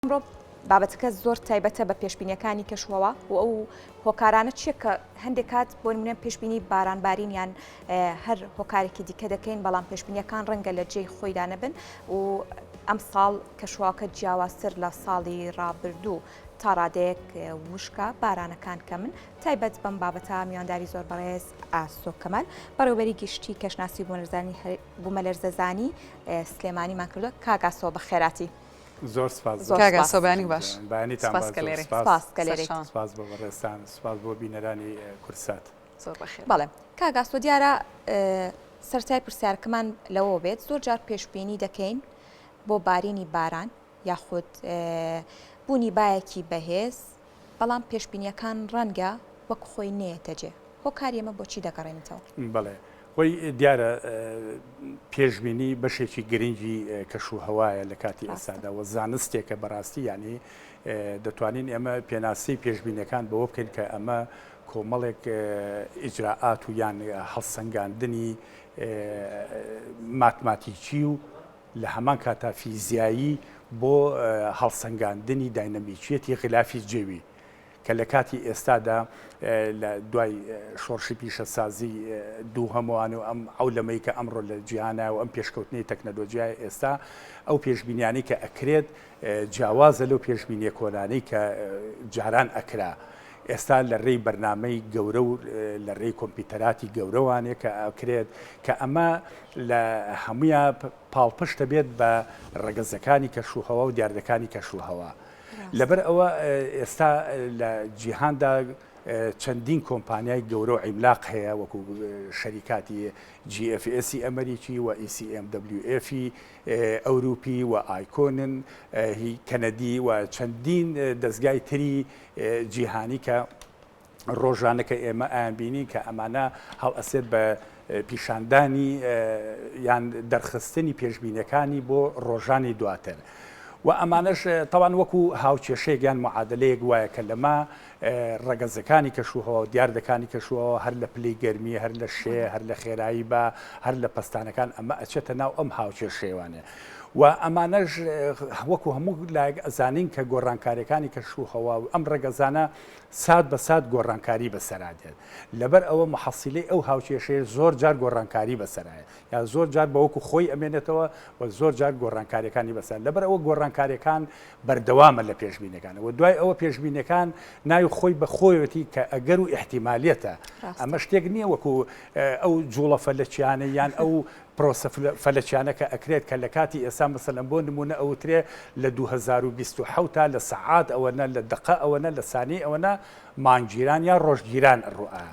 ئەمڕۆ بابەتەکە زۆر تایبەتە بە پێشبینیەکانی کەشوهەوا و ئەو هۆکارانە چیە کە هەندێک کات بۆ نمونە پێشبینی بارانبارین یان هەر هۆکارێکی دیکە دەکەین بەڵام پێشبینیەکان ڕەنگە لە جێی خۆیدا نەبن و ئەم ساڵ کەشوواکە جیاوازتر لە ساڵی ڕابردوو تا ڕادەیەک وشکە بارانەکان کە من تایبەت بەم بابەتە میوانداری زۆر بەڕێز ئاسۆ کەمال بەڕێوبەری گشتی کەشناسی بوومەلەرزانی بوومەلەرزەزانی سلێمانیمان کردووە کاگاسۆ بە خێراتی. زۆر سپاس زۆر کاک سپاس. ئاسۆ بەیانیک باش جوان. بەیانیتان سپاس باش کە زۆر لێرەی. سپاس. سپاس کە لێرەیت. سەرچاوە. سپاس بۆ بەڕێزتان سپاس بۆ بینەرانی کوردسات. زۆر بەخێربێی. بەڵێ کاک ئاسۆ دیارە سەرتای پرسیارەکەمان لەوەوە بێت زۆر جار پێشبینی دەکەین بۆ بارینی باران یاخود بوونی بایەکی بەهێز، بەڵام پێشبینیەکان ڕەنگە وەک خۆی نەیەتە جێ هۆکاری ئەمە بۆچی دەگەڕێنیتەوە؟ بەڵێ خۆی دیارە پێشبینی بەشێکی گرنگی کەش و هەوایە لە کاتی ئێستادا وە زانستێکە بەڕاستی یعنی دەتوانین ئێمە پێناسی پێشبینەکان بەوە بکەین کە ئەمە کۆمەڵێک ئیجرراعات و یان هەڵسەنگاندنی ماتماتیکی و لە هەمان کاتدا فیزیایی بۆ هەڵسەنگاندنی داینەمیکییەتی غلافی جەوی کە لە کاتی ئێستادا لە دوای شۆڕشی پیشەسازی دووهەموان و ئەم عەولەمەی کە ئەمڕۆ لە جیهانە و ئەم پێشکەوتنی تەکنەلۆجیای ئێستا ئەو پێشبینیانەی کە ئەکرێت جیاوازە لەو پێشبینیە کۆنانەی کە جاران ئەکرا، ئێستا لە رێی بەرنامەی گەورە و لە رێی کۆمپیوتەراتی گەورەوانێ کە ئەکرێت کە ئەمە لە هەمویا پاڵپشت ئەبێت بە رەگەزەکانی کەشوهەوا و دیاردەکانی کەشوهەوا. لەبەر ئەوە ئێستا لە جیهاندا چەندین کۆمپانیای گەورە و عیملاق هەیە وەکو شەریکاتی GFS ی ئەمەریکی و ECMWF ی ئەوروپی و ئایکۆنن هی کەنەدی و چەندین دەزگای تری جیهانی کە ڕۆژانەکە ئێمە ئەیانبینین کە ئەمانە هەڵئەسێت بە پیشاندانی یان دەرخستنی پێشبینەکانی بۆ ڕۆژانی دواتر. و ئەمانەش تاوان وەکو هاوکێشەیەک یان معادلەیەک وایە کە لەما ڕەگەزەکانی کەشوهەوا و دیاردەکانی کەشوهەوا هەر لە پلەی گەرمی، هەر لە شێ، هەر لە خێرایی با، هەر لە پەستانەکان ئەمە ئەچێتە ناو ئەم هاوکێشەیوانە و ئەمانەش وەکو هەموو لایەک ئەزانین کە گۆڕانکاریەکانی کەشوهەوا و ئەم ڕەگەزانە سات بە سات گۆڕانکاری بەسەرا دێت لەبەر ئەوە محەسیلەی ئەو هاوکێشەیە زۆر جار گۆڕانکاری بەسەرایە یا زۆر جار بەوەکو خۆی ئەمێنێتەوە و زۆر جار گۆڕانکاریەکانی بەسەر لەبەر ئەوە گۆڕانکاریەکان بەردەوامە لە پێشبینەکانە وە دوای ئەوە پێشبینەکان ناوی خۆی بە خۆیەتی کە ئەگەر و ئحتیمالەتە ئەمە شتێک نییە وەکو ئەو جوڵە فەلەکیانە یان ئەو پرۆسە فەلەکیانەکە ئەکرێت کە لە کاتی ئێستا مەسەلەن بۆ نمونە ئەوترێ لە 2020 تا لە سەعات ئەوەنە لە دقە ئەوەنە لە سانی ئەوەنە مانگگیران یا ڕۆژگیران ڕوئە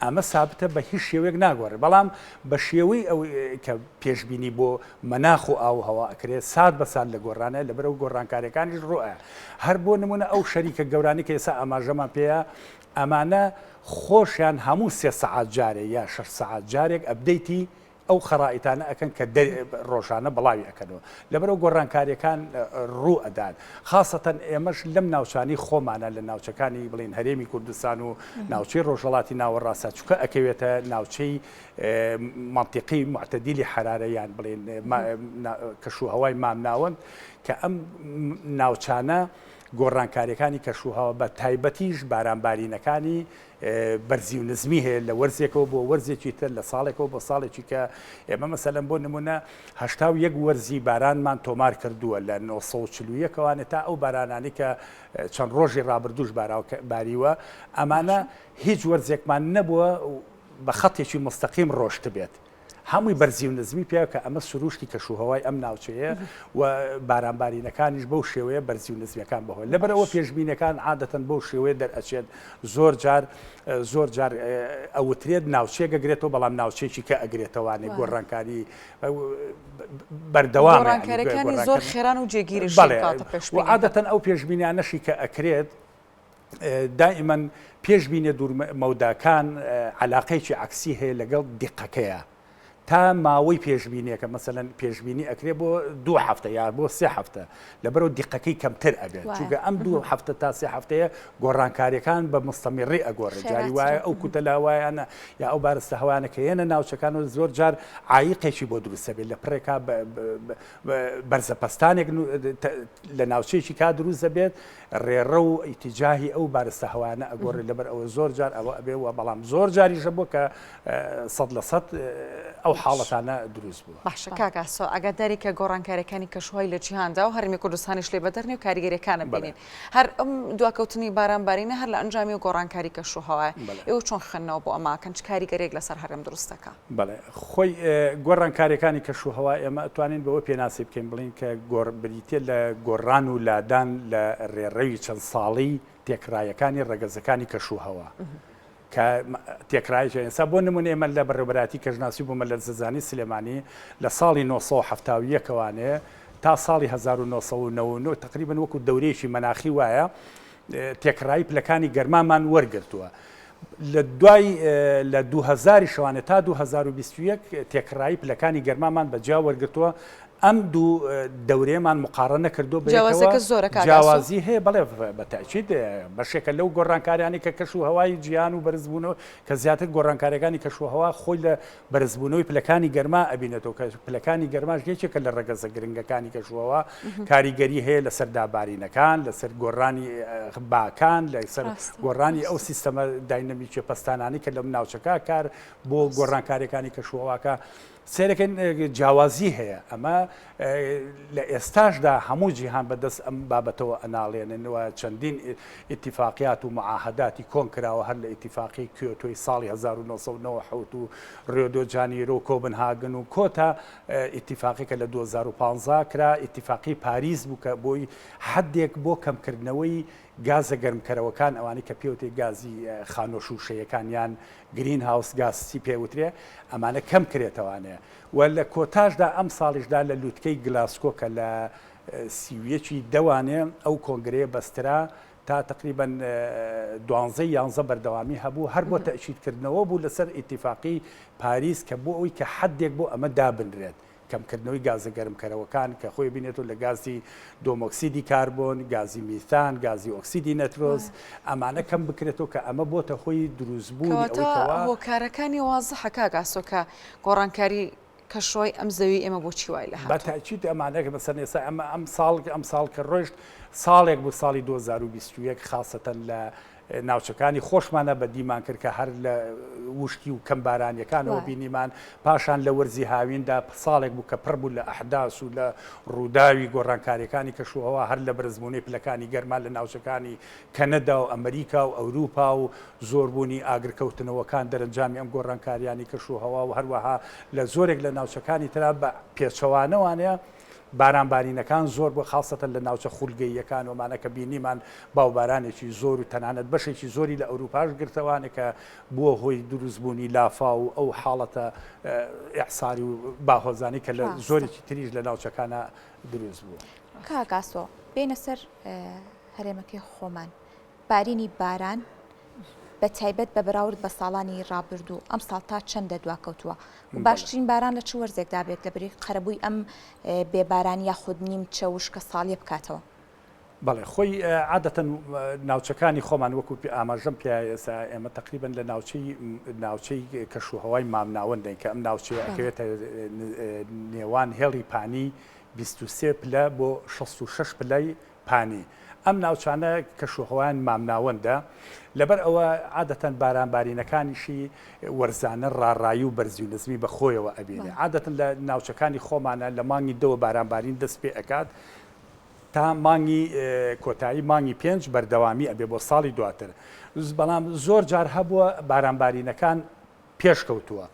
ئەمە سابتە بە هیچ شێوەیەک ناگۆڕێت، بەڵام بە شێوەی ئەوەی کە پێشبینی بۆ مەناخ و ئاو و هەوا ئەکرێت سات بە سات لە گۆڕانە لە بەرەو گۆڕانکاریەکانیش ڕوئ هەر بۆ نمونە ئەو شەریکە گەورانەی کە ئێسا ئاماژەمان پێیە ئەمانە خۆشیان هەموو سێ سەعات جارێ یا شەش سەعات جارێک ئەپدەیتی ئەو خەرائیتانە ئەکەن کە ڕۆژانە بڵاوی ئەکەنەوە لەبەرەو گۆڕانکاریەکان ڕوو ئەدان خاستەن ئێمەش لەم ناوچانی خۆمانە لە ناوچەکانی بڵین هەرێمی کوردستان و ناوچەی ڕۆژەڵاتی ناوەڕاستە چکە ئەکەوێتە ناوچەی منطقی معتەدیلی حرارەیان بڵێن کەشوهوای مامناوەند کە ئەم ناوچانە گۆڕانکاریەکانی کەشوهوە بە تایبەتیش بارانبارینەکانی بەرزی و نزمی هەیە لە وەرزێکەوە بۆ وەرزێکی تر لە ساڵێکەوە بۆ ساڵێکی کە ئێمە مەسەلەن بۆ نمونە هشتا و یەک وەرزی بارانمان تۆمار کردووە لە 1940ەکەوانێت تا ئەو بارانانی کە چەند ڕۆژی ڕابردوش باریوە ئەمانە هیچ وەرزێکمان نەبووە بە خەتێکی مستەقیم ڕۆشت بێت هەمووی بەرزی و نزمی پێ کە ئەمە سروشتی کەش و هەوای ئەم ناوچەیە و بارانبارینەکانیش بەو شێوەیە بەرزی و نزمیەکان بەهۆی لەبەرەوە پێشبینەکان عادەتەن بەو شێوەیە دەرئەچێت زۆر جار زۆر جار ئەوترێت ناوچەیە گەگرێتەوە بەڵام ناوچێکی کە ئەگرێتەوانێ گۆڕانکاری بەردەوام ڕانکارەکانی زۆر خێران و جێگیری عادەتەن ئەو پێشبینیانەشی کە ئەکرێت دائیمەن پێشبینە دوورمەوداکان علاقەیەکی عکسی هەیە لەگەڵ دیقەکەیە تا ماوەی پێشبینیەکە مەسەن پێشبینی ئەکرێ بۆ دو هەفتە یا بۆ سێ هەفتە لەبەرەوە دیقەکەی کەمتر ئەبێت چوگە ئەم دو هەفتە تا سێ هەفتەیە گۆڕانکاریەکان بە مستەمیڕی ئەگۆڕێت جاری وایە ئەو کوتە لاوایانە یا ئەو بارستە هەوانە کە هێنە ناوچەکان و زۆر جار عیقێکی بۆ دروستە بێت لە پڕێکا بەرزەپەستانێک لە ناوچەیەکی کا دروست دەبێت ڕێڕەو و ئیتیجاهی ئەو بارستە هەوایانە ئەگۆڕێت لەبەر ئەوە زۆر جار ئەوە ئەبێ و بەڵام زۆر جاریش هەبووە کە سەد لە سەد ئەو حاڵەتانە دروست بووە. باشە کاک ئاسۆ ئەگەر دەرێکە گۆڕانکاریەکانی کەشوهای لە جیهاندا و هەرێمی کوردستانیش لێ بەدەرنێ و کاریگەریەکانە بینین هەر ئەم دواکەوتنی باران بارینە هەر لە ئەنجامی گۆڕانکاری کەشوهەوایە ئێوە چۆن خوێندنەوە بۆ ئەمە ئەکەن چ کاریگەریەک لەسەر هەرێم دروست دەکا؟ بەڵێ خۆی گۆڕانکاریەکانی کەش و هەوا ئێمە ئەتوانین بەوە پێناسی بکەین بڵین کە گۆڕ بریتە لە گۆڕان و لادان لە ڕێڕەوی چەند ساڵی تێکڕایەکانی ڕەگەزەکانی کەش و هەوا کە تێکڕایش ئێستا بۆ نمونە ئێمە لە بەڕێبەراتی کەژناسی بوومە لە زەزانی سلێمانی لە ساڵی 1970ەکەوانێ تا ساڵی 1990 تقریبن وەکو دەورێکی مەناخی وایە تێکڕایی پلەکانی گەرمامان وەرگرتووە لە دوای لە دوو هەزاری شەوانە تا 2021 تێکڕایی پلەکانی گەرمامان بە جیا وەرگتووە ئەم دوو دەورێمان مقاڕە نەکردو بەوازەکە زۆرە جیاوازی هەیە بڵێ بەتاچیت بەشێکە لەو گۆڕانکاریانی کە کەش و هەوای جیان و بەرزبوونەوە کە زیاتر گۆڕانکاریەکانی کەشوهوا خۆی لە بەرزبوونەوەی پلەکانی گەرما ئەبینێتەوە کە پلەکانی گەرماش یەکێکە لە ڕەگەزە گرنگەکانی کە شووەوە کاریگەری هەیە لەسەر دابارینەکان لەسەر گۆڕانی باکان لەسەر گۆڕانی ئەو سیستەمە داینەمیکی پستانانی کە لەم ناوچەکە کار بۆ گۆڕانکاریەکانی کە شوواکە سێرەکەن جیاوازی هەیە ئەمە لە ئێستاشدا هەموو جیهان بە دەست ئەم بابەتەوە ئەناڵێنن و چەندین ئیتیفاقیات و معاهەداتی کۆن کراوە هەر لە ئیتیفاقی کیۆتۆی ساڵی هەزار و نۆ سەد و نەوەد و حەوت و ڕیۆدۆ جانیرۆ و کۆبنهاگن و کۆتا ئیتیفاقی کە لە دوو هەزار و پازدە کرا ئیتیفاقی پاریس بوو کە بۆی حەدێک بۆ کەمکردنەوەی گازە گەرمکەرەوەکان ئەوانەی کە پێوتێ گازی خانۆ شووشەیەکان یان گرین هاوس گاز چی پێ وترێ ئەمانە کەم کرێتەوانێ و لە کۆتاشدا ئەمساڵیشدا لە لوتکەی گلاسکۆ کە لە سی و یەک ی دەوانێ ئەو کۆنگرەیە بەسترا تا تەقریبەن دوانزە یانزە بەردەوامی هەبوو هەر بۆ تەئکیدکردنەوە بوو لەسەر ئیتیفاقی پاریس کە بۆ ئەوەی کە حەدێک بۆ ئەمە دابنرێت کەمکردنەوەی گازە گەرمکەرەوەکان کە خۆی بینێتەوە لە گازی دۆمۆکسیدی کاربۆن، گازی میثان، گازی ئۆکسیدی نەترۆز ئەمانە کەم بکرێتەوە کە ئەمە بۆتە هۆی دروستبوونی ئەوەی کەوا. کەواتە هۆکارەکانی وازحە کاک ئاسۆ کە گۆڕانکاری کە شوی ئەم زەوی ئێمە بۆ چی وای لە هاتوو؟ بە تاکید ئەمان ئەگەر مەسەن ئێستا ئەمە ئەم ساڵ ئەم ساڵ کە ڕۆشت ساڵێک بوو ساڵی 2021 خاستەن لە ناوچەکانی خۆشمانە بە دیمان کرد کە هەر لە وشکی و کەم بارانیەکانەوە بینیمان پاشان لە وەرزی هاویندا ساڵێک بوو کە پڕ بوو لە ئەحداس و لە ڕووداوی گۆڕانکاریەکانی کەشوهوا هەر لە بەرزبوونەی پلەکانی گەرمان لە ناوچەکانی کەنەدا و ئەمریکا و ئەوروپا و زۆربوونی ئاگرکەوتنەوەکان دەرەنجامی ئەم گۆڕانکارییانەی کەشوهەوا و هەروەها لە زۆرێک لە ناوچەکانی ترا بە پێچەوانەوانەیە، بارانبارینەکان زۆر بووە خاستەتەن لە ناوچە خولگەییەکان وەمانە کە بینیمان با و بارانێکی زۆر و تەنانەت بەشێکی زۆری لە ئەوروپاش گرتەوانە کە بووە هۆی دروستبوونی لافاو و ئەو حاڵەتە ئیعساری و باهۆزانەی کە لە زۆرێکی تریش لە ناوچەکانە دروست بوو. کاک ئاسۆ بێینە سەر هەرێمەکەی خۆمان بارینی باران بەتایبەت بە بەراورد بە ساڵانی ڕابردوو ئەم ساڵ تا چەندە دواکەوتووە باشترین باران لە چ وەرزێکدا بێت لە بری قەرەبووی ئەم بێباران یاخود نیم چە وشکە ساڵیە بکاتەوە بەڵێ خۆی عادەتەن ناوچەکانی خۆمان وەکو ئاماژەم پێ ئێسا ئێمە تقریبن لە ناوچەی ناوچەی کەش و هەوای مامناوەندەین کە ئەم ناوچەیە ئەکەوێتە نێوان هێڵی پانی 23 پلە بۆ 66 پلای پانی، ئەم ناوچانە کەشوهەوایان مامناوەندە، لەبەر ئەوە عادەتەن باران بارینەکانیشی وەرزانە ڕاڕایی و بەرزی و نزمی بە خۆیەوە ئەبینێ، عادەتەن لە ناوچەکانی خۆمانا لە مانگی دەوە باران بارین دەست پێ ئەکات تا مانگی کۆتایی مانگی پێنج بەردەوامی ئەبێ بۆ ساڵی دواتر، بەڵام زۆر جار هەبووە باران بارینەکان پێش کەوتووە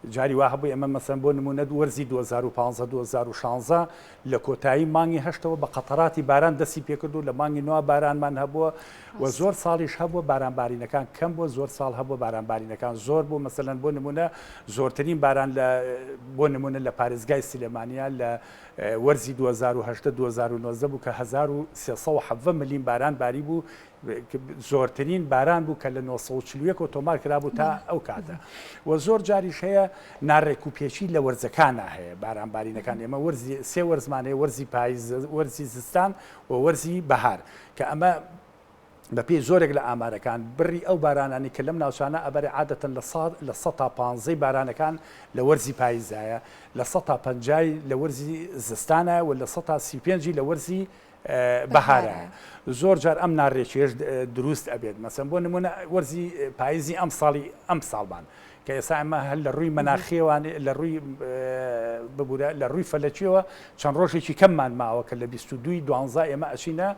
جاری وا هەبوو ئێمە مەسەن بۆ نمونە دو وەرزی 2015 2016 لە کۆتایی مانگی هەشتەوە بە قەتەراتی باران دەستی پێکرد و لە مانگی نووا بارانمان هەبووە و زۆر ساڵیش هەبووە بارانبارینەکان کەم بۆ زۆر ساڵ هەبوو بارانبارینەکان زۆر بۆ مەسەن بۆ نمونە زۆرترین باران لە بۆ نمونە لە پارێزگای سلێمانیا لە وەرزی 2010 2009 بوو کە 1370 ملیم باران باری بوو زۆرترین باران بوو کە لە نۆ سەد و چل و یەک ئۆتۆمار کرابوو تا ئەو کاتە و زۆر جاریش هەیە ناڕێک و پێچی لە وەرزەکانە هەیە بارانبارینەکان ئێمە وەرزی سێ وەرزمان هەیە وەرزی پاییز وەرزی زستان و وەرزی بەهار کە ئەمە بە پێی زۆرێک لە ئامارەکان بڕی ئەو بارانانی کە لەم ناوچانە ئەبەر عادەتەن لە سا لە سە تا پانزەی بارانەکان لە وەرزی پاییزایە لە سە تا پەنجای لە وەرزی زستانە و لە سە تا سی پێنجی لە وەرزی بەهارە. زۆر جار ئەم ناڕێکیەش دروست ئەبێت مەسەن بۆ نمونە وەرزی پاییزی ئەم ساڵی ئەم ساڵمان کە ئێسا ئەمە هەر لە ڕووی مەناخیێوان لە ڕووی ببوورە لە ڕووی فەلەکیەوە چەند ڕۆژێکی کەممان ماوە کە لە 22 دوانزا ئێمە ئەچینە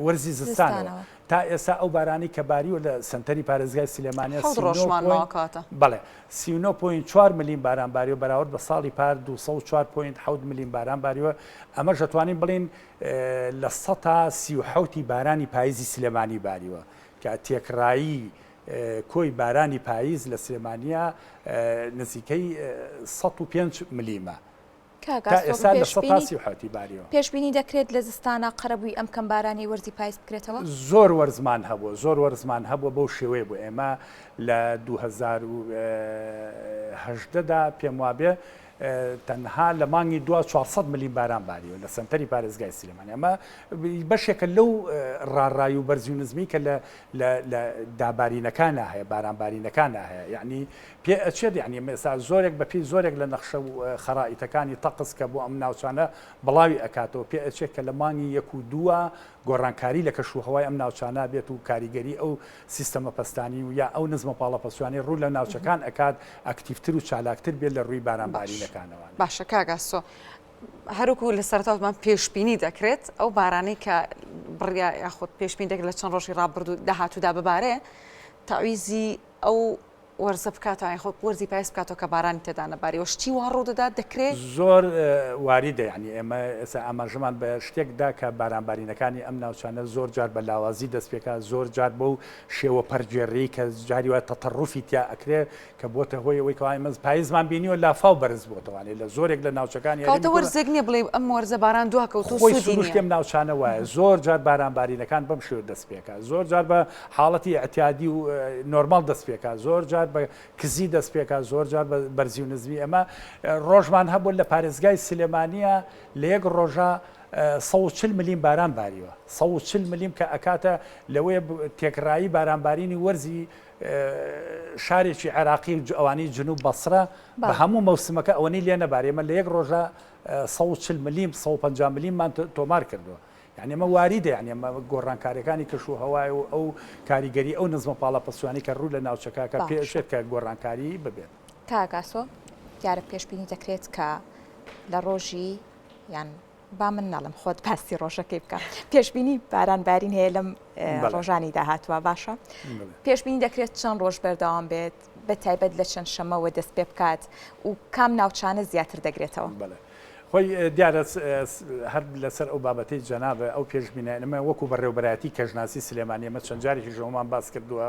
وەرزی زستانەوە تا ئێستا ئەو بارانەی کە باریوە لە سەنتەری پارێزگای سلێمانیە سی و نۆ پۆینت بەڵێ سی و نۆ پۆینت چوار ملیم باران باریوە بەراورد بە ساڵی پار دوو سەد و چوار پۆینت حەوت ملیم باران باریوە ئەمەش دەتوانین بڵێین لە سەتا سی و حەوتی بارانی پاییزی سلێمانی باریوە کە تێکڕایی کۆی بارانی پاییز لە سلێمانیە نزیکەی سەد و پێنج ملیمە کاک ئاسۆ، پێشبینی دەکرێت لە زستانا قەرەبووی ئەم کەم بارانەی وەرزی پایز بکرێتەوە؟ زۆر وەرزمان هەبووە، زۆر وەرزمان هەبووە بەو شێوەیە بوو ئێمە لە دوو هەزار و هەژدە دا پێم وابێ تەنها لە مانگی دوا چوار سەد ملیم باران باریوە لە سەنتەری پارێزگای سلێمانی ئەمە بەشێکە لەو ڕاڕای و بەرزی و نزمی کە لە دابارینەکانە هەیە بارانبارینەکانە هەیە یعنی پێ ئەچێت یانی ئێمە ئێستا زۆرێک بە پێی زۆرێک لە نەخشە و خەرائیتەکانی تەقس کە بۆ ئەم ناوچانە بڵاوی ئەکاتەوە پێ ئەچێت کە لە مانگی یەک و دووە گۆڕانکاری لە کەش و هەوای ئەم ناوچانە بێت و کاریگەری ئەو سیستەمە پەستانی و یا ئەو نزمە پاڵە پەستویانەی ڕوو لە ناوچەکان ئەکات ئەکتیڤتر و چالاکتر بێت لە ڕووی باران بارینەکانەوە. باشە کاک ئاسۆ هەر وەکو لە سەرەتا وتمان پێشبینی دەکرێت ئەو بارانەی کە بڕیا یاخود پێشبینی دەکرێت لە چەند ڕۆژی ڕابردوو داهاتوودا ببارێ تاویزی ئەو وەرزە بکاتەوە یان خۆ وەرزی پایز بکاتەوە کە بارانی تێدا نەباری و شتی وا ڕوو دەدات دەکرێ. زۆر واریدە یانی ئێمە ئێستا ئاماژەمان بە شتێک دا کە بارانبارینەکانی ئەم ناوچانە زۆر جار بە لاوازی دەست پێ کا زۆر جار بەو شێوە پەرگێڕیی کە جاری وایە تەتەڕوفی تیا ئەکرێ کە بۆتە هۆی ئەوەی کەوا ئێمە پایزمان بینیوە لافاو بەرز بۆتەوە یانی لە زۆرێک لە ناوچەکانی هەرێمی کەواتە وەرزێک نییە بڵێی ئەم وەرزە باران دوا کەوتووە سوودی نییە خۆی سروشتی ئەم ناوچانە وایە زۆر جار بارانبارینەکان بەم شێوە دەست پێ کا زۆر جار بە حاڵەتی ئیعتیادی و نۆرماڵ دەست پێکا زۆر جار بە کزی دەست پێکا زۆر جار بە بەرزی و نزمی ئەمە ڕۆژمان هەبوو لە پارێزگای سلێمانیە لە یەک ڕۆژە سە و چل ملیم باران باریوە سە و چل ملیم کە ئەکاتە لەوەیە ب- تێکڕایی بارانبارینی وەرزی ئە، شارێکی عێراقی و ج- ئەوانەی جنوب بەسرە بە بەڵێ. هەموو مەوسمەکە ئەوەنەی لێ نەبارێ ئێمە لە یەک ڕۆژە سە و چل ملیم سە و پەنجا ملیممان تۆ تۆمار کردوە یانی ئەمە واریدە یانی ئەمە گۆڕانکاریەکانی کەش و هەوای و ئەو کاریگەری ئەو نزمە پاڵاپسوانی کە ڕوو لە ناوچەکە کە پێشێت کە گۆڕانکاری ببێت. کاک ئاسۆ دیارە پێشبینی دەکرێت کە لە ڕۆژی یان با من نەڵم خۆت پاستی ڕۆژەکەی بکە پێشبینی باران بارین هەیە لەم ڕۆژانی داهاتوە باشە پێشبینی دەکرێت چەند ڕۆژ بەردەوام بێت بە تایبەت لە چەند شەمەوە دەست پێ بکات و کام ناوچانە زیاتر دەگرێتەوە؟ بەڵێ خۆی دیارە هەر لەسەر ئەو بابەتەی جەنابە ئەو پێشبینیانەمە وەکو بەڕێوبەرایەتی کەژناسی سلێمانی ئەمە چەند جارێکیش ئەومان باس کردووە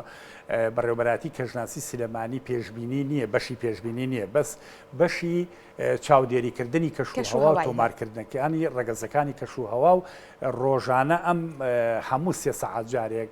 بەڕێوبەراتی کەژناسی سلێمانی پێشبینی نییە بەشی پێشبینی نییە بەس بەشی چاودێریکردنی کەش و هەوا و تۆمارکردنەکانی ڕەگەزەکانی کەش و هەوا و ڕۆژانە ئەم هەموو سێ سەعات جارێک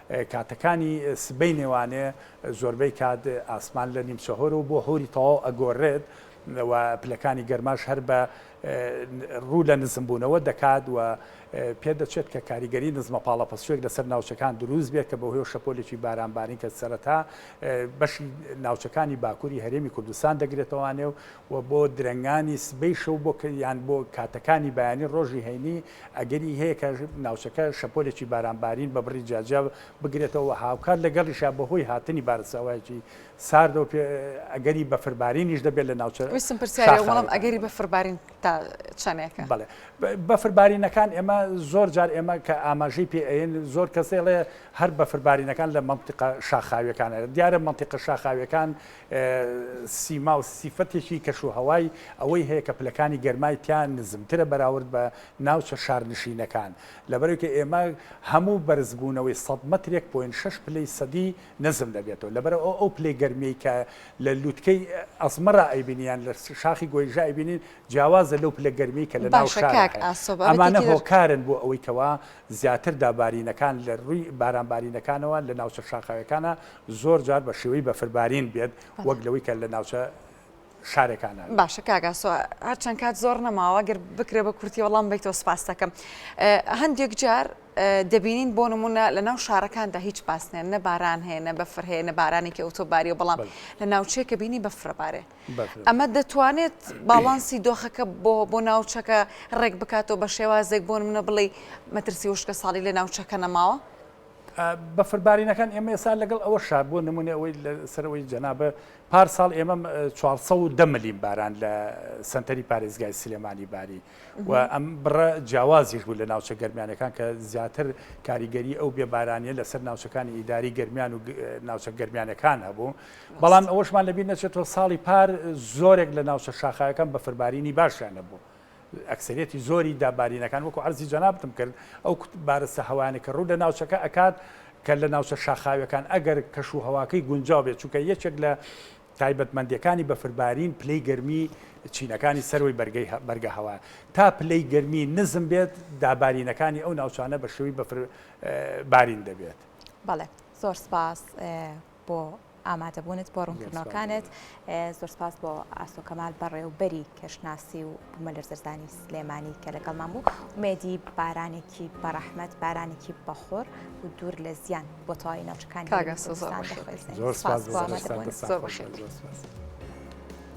کاتەکانی سبەینێ وانێ زۆربەی کات ئاسمان لە نیمچە هۆر و بۆ هۆری تەواو ئەگۆررێت و پلەکانی گەرماش هەر بە روو لە نزم بوونەوە دەکات و پێ دەچێت کە کاریگەری نزمە پاڵەپەستوێک لەسەر ناوچەکان دروست بێت کە بەهۆی شەپۆلێکی بارانبارین کە سەرەتا بەشی ناوچەکانی باکووری هەرێمی کوردستان دەگرێتەوانێ و بۆ درەنگانی سبەی شەو بۆ یان بۆ کاتەکانی بەیانی ڕۆژی هەینی ئەگەری هەیە کە ناوچەکە شەپۆلێکی بارانبارین بە بڕی جیاجیا بگرێتەوە و هاوکات لەگەڵیشا بەهۆی هاتنی بارستاوایەکی ساردەوە پێ ئەگەری بەفربارینیش دەبێت لە ناوچە ویستم پرسیاری ئەو بڵێم ئەگەری بەفربارین تا چەندێکە بەڵێ بە- بەفربارینەکان ئێمە زۆر جار ئێمە کە ئاماژەی پێ ئەین زۆر کەس دەڵێ هەر بەفربارینەکان لە مەنتیقە شاخاویەکانە دیارە مەنتیقە شاخاویەکان سیما و سیفەتێکی کەشوهەوای ئەوەی هەیە کە پلەکانی گەرمای تیا نزمترە بەراورد بە ناوچە شارنشینەکان، لەبەرئەوەی ئێمە هەموو بەرزبوونەوەی سەد مەترێک پۆینت شەش پلەی سەدی نزم دەبێتەوە لەبەرئەوە ئەو پلەی گەرمیەی کە لە لوتکەی ئەزمەرا ئەیبینین یان لە شاخی گۆیژە ئەیبینین جیاوازە لەو پلە گەرمیەی کە لە ناو شارا هەیە ئەمانە هۆکارن بۆ ئەوەی کەوا زیاتر دابارینەکان لە رووی بارانبارینەکانەوە لە ناوچە شاخاویەکانا زۆر جار بە شێوەی بەفربارین بێت وەک لەوەی کە لە ناوچە شارەکانە باشە کاگاسۆ هەرچەند کات زۆر نەماوە گەر بکرێ بە کورتی وەڵام بیتەوە سپاس دەکەم هەندێک جار دەبینین بۆ نمونە لە ناو شارەکاندا هیچ پاسنێن نە باران هەیە نە بەفر هەیە نە بارانێکی ئەوتۆباری و بەڵام لە ناوچێکە بینی بەفرەبارێ ئەمە دەتوانێت باڵانسی دۆخەکە بۆ بۆ ناوچەکە ڕێک بکاتەوە بە شێوازێک بۆن منە بڵێ مەترسی وشکە ساڵی لە ناوچەکە نەماوە بەفربارینەکان ئێمە ئێستا لەگەڵ ئەوە شار بۆ نمونێ ئەوەی لە سەرەوەی جەنابە پار ساڵ ئێمە 410 ملیم باران لە سنتەری پارێزگای سلێمانی باری و ئەم بڕە جیاوازیش بوو لە ناوچە گەرمیانەکان کە زیاتر کاریگەری ئەو بێبارانیە لەسەر ناوچەکانی ئیداری گەرمیان و ناوچە گەرمیانەکان هەبوو بەڵام ئەوەشمان لەبییر نەچێتەوە ساڵی پار زۆرێک لە ناوچە شاخایەکان بەفربارینی باشیان نەبوو ئەکسەریەتی زۆری دابارینەکان وەکو عەرزی جەنابتم کرد ئەو بارستە هەوایانە کە ڕوو لە ناوچەکە ئەکات کە لە ناوچە شاخاویەکان ئەگەر کەش و هەواکەی گونجاو بێت چونکە یەکێک لە تایبەتمەندەکانی بەفربارین پلەی گەرمی چینەکانی سەروی بەرگەی بەرگە هەوا تا پلەی گەرمی نزم بێت دابارینەکانی ئەو ناوچانە بە شێوی بەفر بارین دەبێت بەڵێ زۆر سپاس بۆ ئامادەبوونت بۆ ڕوونکردنەوەکانت زۆر سپاس بۆ ئاسۆ کەمال بەڕێوبەری کەشناسی و بوومەلەرزەدانی سلێمانی کە لەگەڵمان بوو ومێدی بارانێکی بەڕەحمەت بارانێکی بەخۆر و دوور لە زیان بۆ تەواوی ناوچەکانی زۆر سپاس بۆ ئامادەبوونت.